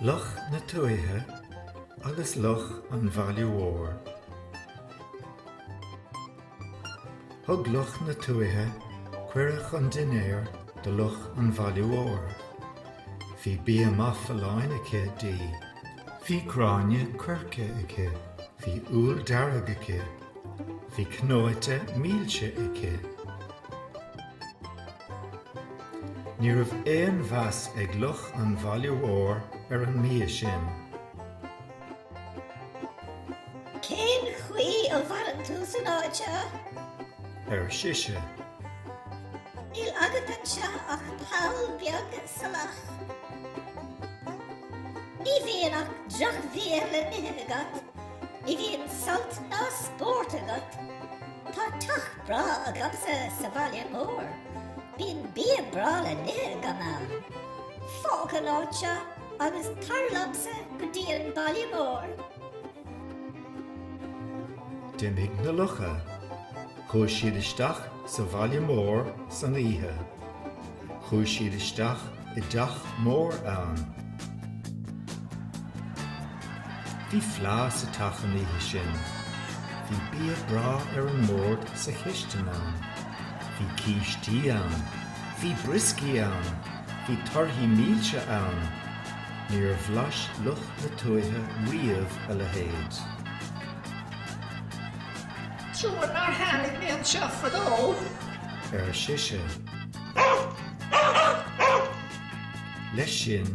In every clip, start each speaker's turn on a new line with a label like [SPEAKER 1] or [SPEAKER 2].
[SPEAKER 1] Luch na Tuaithe agus Luch an Bhaile Mhóir. Thug Luch na Tuaithe cuireadh chun dinnéir do Luch an Bhaile Mhóir. Bhí bia maith folláin aici di. Bhí gráinne coirce aici. Bhí úll dearg aici. Bhí cnóite milse aici. Ní raibh aon mheas ag luch an bhaile mhóir ar an mbia sin.
[SPEAKER 2] Cén chaoi a maireann tú san áit seo?
[SPEAKER 1] ar
[SPEAKER 2] sise. Níl agat anseo ach poll beag salach. Ní bhíonn ach droch-bhia le n-ithe agat. Ní bhíonn sult ná spórt agat. Tá teach breá agamsa sa bhaile mór. Bíonn bia breá le n-ithe agam ann. Fág an áit seo agus tar liomsa go dtí an baile
[SPEAKER 1] mór. D'imigh na lucha. Chuaidh siad isteach sa bhaile mór san oíche. Chuaidh siad isteach i dteach mór ann. Bhí fleá sa teach an oíche sin. Bhí bia breá ar an mbord sa chistin ann. Bhí cístí ann. Bhí brioscaí ann. Bhí torthaí milse ann. Níor bhlais luch na tuaithe riamh a
[SPEAKER 3] leithéid. Trua nár tháinig mé anseo fadó! ar
[SPEAKER 1] sise. Leis sin,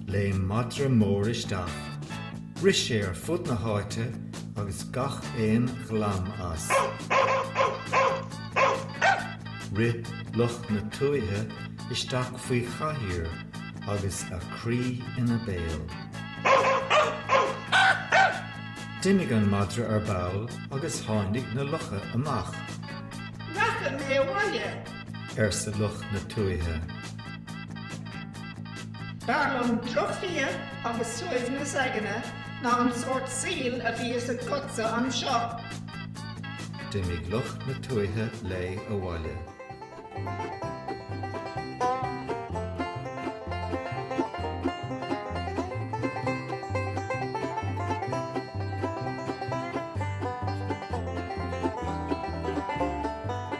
[SPEAKER 1] léim madra mór isteach. Rith sé ar fud na háite agus gach aon ghlam as. Rith luch na tuaithe isteach faoi chathaoir agus a croí ina béal. D'imigh an madra ar ball agus tháinig na lucha amach. Rachaidh mé abhaile! arsa luch na
[SPEAKER 3] tuaithe. B'fhearr liom drochbhia agus suaimhneas aigne ná an sórt saoil a bhíos agatsa anseo.
[SPEAKER 1] D'imigh luch na tuaithe léi abhaile.